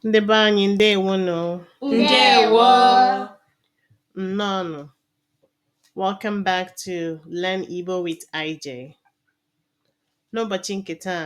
Ndị be anyị ndewonụ. Ndewo. Nnọọnụ. Welcome back to Learn Igbo with IJ. N'ụbọchị nke taa,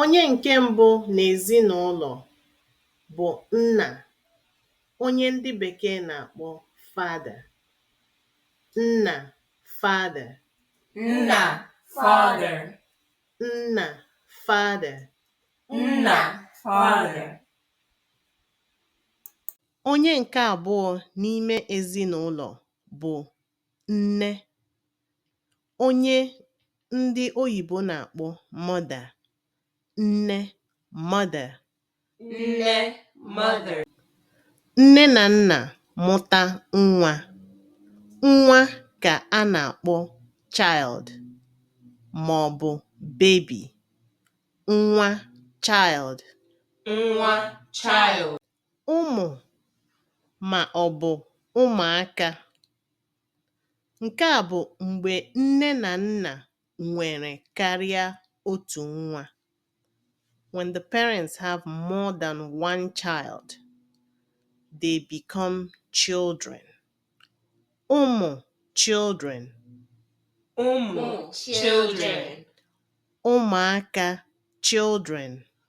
Onye ǹke mbụ n'èzinụlọ̀ bụ̀ nnà, onye ndị bèkee nà-àkpọ father, nnà father. Nnà father. Nnà father. Nnà father. Onye ǹke àbụọ n'ime èzinụlọ̀ bụ̀ nne, onye ndị oyìbo nà-àkpọ mother, nne, mother. nne, mother. Nne nà nnà mụta nwa, nwa kà a nà-àkpọ child mà ọ̀ bụ̀ baby, nwa, child. nwa, child. ụmụ ma ọ bụ ụmụaka. Nke a bụ mgbe nne na nna nwere karịa otu nwa, when the parents have more than one child, they become children. Ụmụ children. Ụmụ children. Ụmụaka children.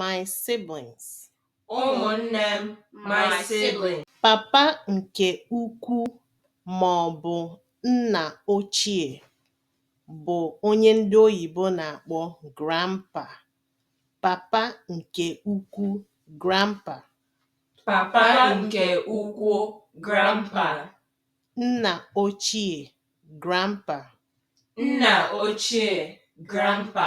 my siblings. Ụmụnne m, my siblings. Papa nke ukwu ma ọ bụ nna ochie bụ onye ndị oyibo na-akpọ grandpa. Papa nke ukwu, grandpa. Papa nke ukwu, grandpa. Nna ochie, grandpa. Nna ochie, grandpa.